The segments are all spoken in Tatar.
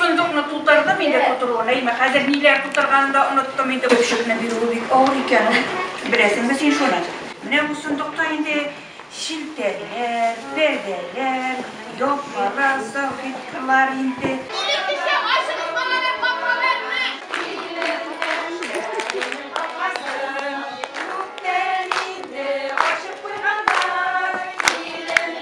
Сундукны тутырдым инде тутыруын, әйме, хәзер ниләр тутырганын да оныттым инде. Көпшекне бирүе бик авыр икән ул. Беләсеңме син шуны? Менә бу сундукта инде челтәрләр, пәрдәләр, япмалар, салфеткалар инде. Бүген кичә ачыгыз балалар капкаларны! Илебезнең капкасын күптән инде ачып куйганнар. Илем.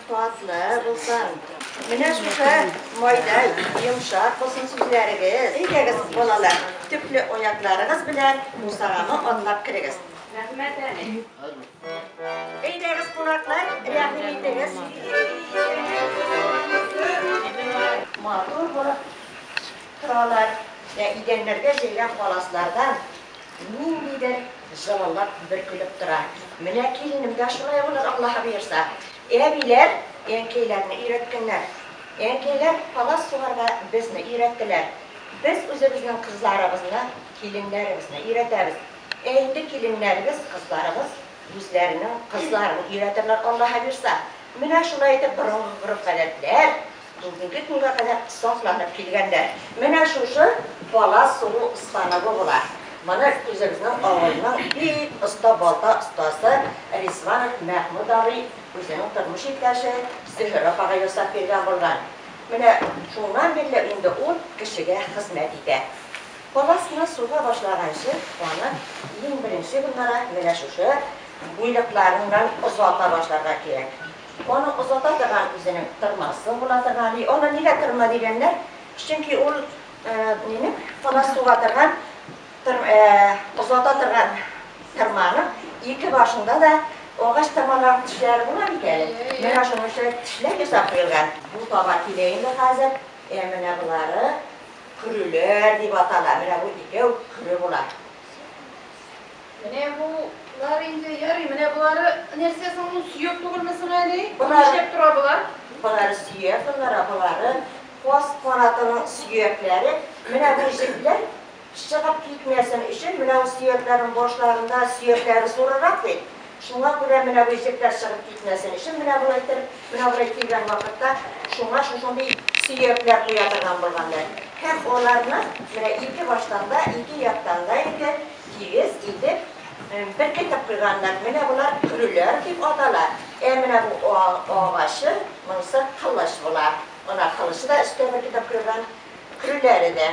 Татлы булсын. Менә шушы майда йомшак булсын сүзләрегез. Әйдәгез, балалар, төпле аякларыгыз белән бусаганы атлап керегез. Рәхмәт, әни. Әйдәгез, кунаклар, рәхим итегез. Матур булып торалар. Менә идәннәргә җәйгән паласлардан ниндидер Золалап бер көлеп тора. Менә киленем дә шулай булыр, Аллаһы боерса. Әбиләр әнкәйләрне өйрәткәннәр. Әнкәйләр палас сугарга безне өйрәттеләр. Без үзебезнең кызларыбызны киленнәребезне өйрәтәбез. Ә инде киленнәребез, кызларыбыз үзләренең кызларын өйрәтерләр, Аллаһы боерса. Менә шулай итеп борынгы гореф-гадәтләр. Бүгенге көнгә кадәр сакланып килгәннәр. Менә шушы палас сугу станогы була. Моны үзебезнең авылның бик оста балта остасы Ризванов Мәхмүт абый үзенең тормыш иптәше Зөһрә апага ясап биргән булган. Менә шуннан бирле инде ул кешегә хезмәт итә. Паласны суга башлаганчы, аны иң беренче гөлнара менә шушы буйлыкларыннан озата башларга кирәк. Аның озата торган үзенең тырмасы була торган. И, аны нигә тырма дигәннәр? Чөнки ул минем кана суга торган, озата торган тырманың ике башында да агач тырмалар тешләре була бит әле. Менә шуның өчен тешләп ясап куелган. Бу таба килә инде хәзер. Ә менә болары көреләр дип атала. Менә бу икәү көре була. Менә бу лар инде ярый, менә болары нәрсә соң ул, сөяк түгелме соң әле? Бу нишләп тора болар? Болары сөяк болар, ә болары каз канатының сөякләре. Менә бу җепләр чыгып китмәсен өчен, менә ул сөякләрнең башларында сөякләре зурырак бит, шуңа күрә менә бу җепләр чыгып китмәсен өчен менә болай иттереп, менә болай килгән вакытта шуңа шушындый сөякләр куя торган булганнар. Һәм аларны менә ике баштан да, ике яктан да инде, Тигез итеп беркетеп куйганнар. Менә болар көреләр дип атала. Ә менә бу агачы, монысы кылыч була. Ана кылычы да өскә беркетеп куелган, көреләре дә.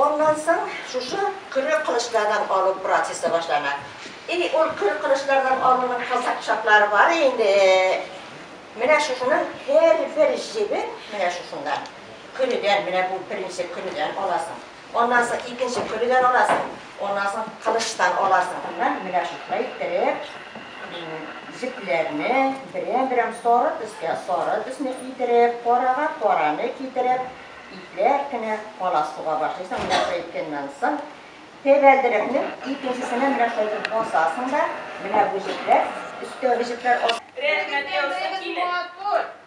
Аннан соң шушы көре кылычлардан алу процессы башлана. И ул көре кылычлардан алуның кызык чаклары бар инде. Менә шушының һәрбер җебен менә шушыннан, көредән, менә бу беренче көредән аласың. Аннан соң икенче көлгән аласың, аннан соң кылычтан аласың. Моннан менә шулай иттереп, җепләрне берәм-берәм сары төскә сары төсне китереп, карага караны китереп, ипләп кенә каласуга башлыйсың. Менә шулай иткәннән соң, тәбәлдерекнең икенчесенә менә шулай итеп басасың да, менә бу җепләр, өстәге җепләр. Рәхмәт яусын, килен.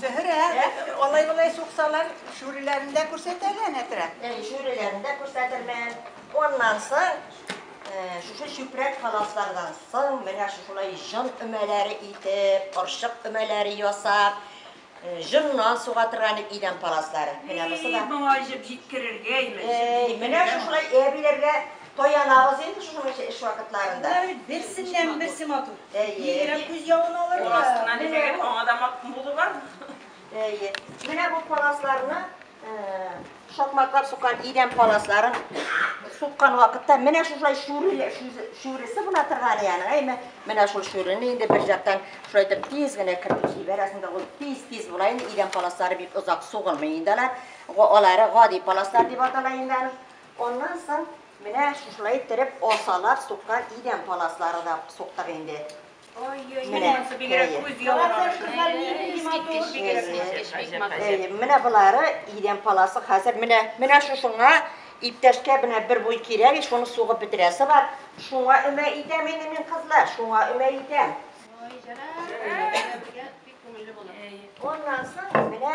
Зөһрә, алай-болай суксалар, шүреләрне дә күрсәт әле, Әнәтрә. Әй, шүреләрне дә күрсәтермен. Аннан соң, шушы чүпрәк ханаслардан соң, менә шушылай җон өмәләре итеп, орчык өмәләре ясап, җоннан суга торган идән паласлары. Менә бусы да. Әй, моңа җеп җиткерергә имеш. Әй, менә шушылай әбиләргә Таянабыз инде шуның өчен эш вакытларында. Болар бит берсеннән-берсе матур. Бигрәк күз явын алыр. Ул астына димәгән, аңа да матур булу бар. Әйе. Менә бу паласларны шакмаклап суккан идән паласларын суккан вакытта менә шушай шүреле шүресе була торган янга әйме менә шул шүрене инде бер жактан шулай итеп тиз генә кертеп җибәрәсең дә ул тиз тиз була инде идән паласлары бик озак сугылмый инде алар алары гади паласлар дип атала инде аны Аннан соң менә шушылай иттереп асалар суккан идән паласлары да суктык инде. Менә Менә болары идән паласы хәзер менә менә шушыңа иптәшкә менә бер буй кирәк, шуны сугып бетерәсе бар. Шуңа өмә итәм инде мин кызлар, шуңа өмә итәм. Аннан соң менә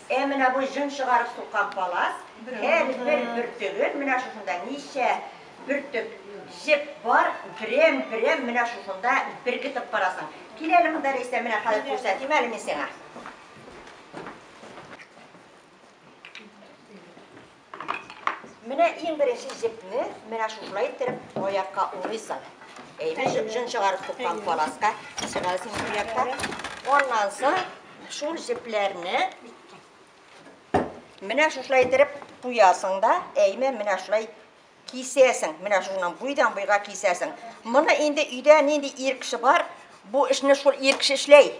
Ә менә бу җон чыгарып суккан палас, һәр бер бөртеген, менә шушында ничә бөртек җеп бар, берәм-берәм менә шушында беркетеп карасаң. Кил әле монда, Рәйсә, менә хәзер күрсәтим әле мин сиңа. Менә иң беренче җепне менә шушылай иттереп аякка урыйсың. Әйбәт җеп җон чыгарып туккан паласка чыгарасың ике якка. Аннан соң шул җепләрне менә шушылай иттереп куясың да, әйме менә шулай Кисәсең, менә шуннан буйдан буйга кисәсең. Моны инде өйдә нинди ир кеше бар, бу эшне шул ир кеше эшләй.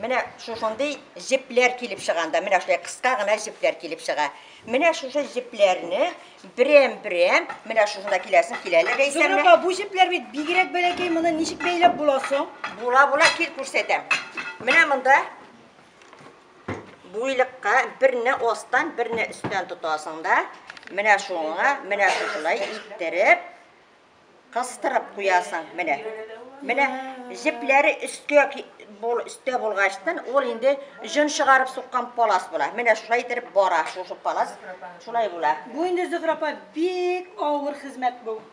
Менә шушындый җепләр килеп чыганда, менә шулай кыска гына җепләр килеп чыга. Менә шушы җепләрне берәм-берәм, менә шушында киләсен киләле Рәйсәмә. Зөһрәпа, бу җепләр бит бигрәк бәләкәй, моны ничек бәйләп була соң? Була-була кил күрсәтәм. Менә монда буйлыкка берне астан, берне өстән тотасың да, менә шуңа, менә шушылай иттереп, кыстырып куясың, менә. Менә җепләре өскә бул, өстә булгачтан, ул инде җон чыгарып суккан палас була. Менә шулай иттереп бара, шушы палас шулай була. Бу инде Зөһрәпа бик авыр хезмәт бу.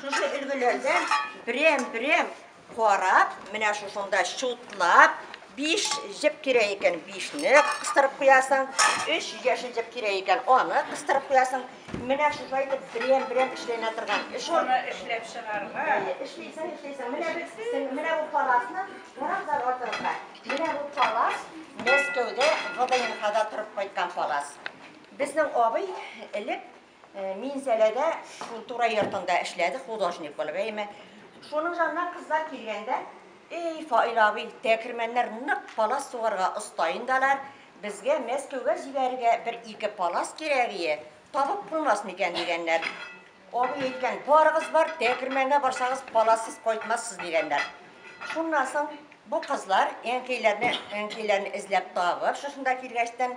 Шушы өлгеләрдән берәм-берәм карап, менә шушында чутлап, биш җеп кирәк икән, бишне кыстырып куясың, өч яшел җеп кирәк икән, аны кыстырып куясың. Менә шушай итеп берәм-берәм эшләнә торган эш ул. Шуны эшләп чыгарга. Әйе, эшлисең, эшлисең. Менә без, менә бу паласны бераз артырга. Менә бу палас Мәскәүдә ВДНХда торып кайткан палас. Безнең абый элек Минзәләдә шул турай йортында эшләде художник булып, әйме. Шуның янына кызлар килгәндә, эй, Фаил абый, тәкермәннәр нык палас сугарга оста инде алар, безгә Мәскәүгә җибәрергә бер ике палас кирәк ие, табып булмас микән дигәннәр. Абый әйткән, барыгыз бар, тәкермәнгә барсагыз, палассыз кайтмассыз дигәннәр. Шуннан соң бу кызлар әнкәйләрне, әнкәйләрне эзләп табып, шушында килгәчтән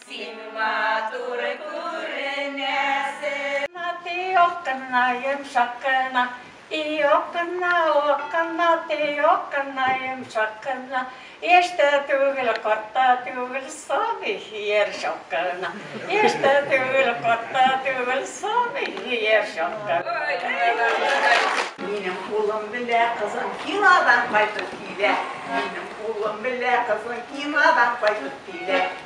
Син матур күренәсең. Тиюк кына, йомшак кына. Тиюк кына, ук кына. Тиюк кына, йомшак кына. Яшь тә түгел, карт та түгел, сабый һөяр чак кына. Яшь тә түгел, карт та түгел, сабый һөяр чак кына. Минем улым белә кызым кинодан кайтып килә. Минем улым белә кызым кинодан кайтып килә.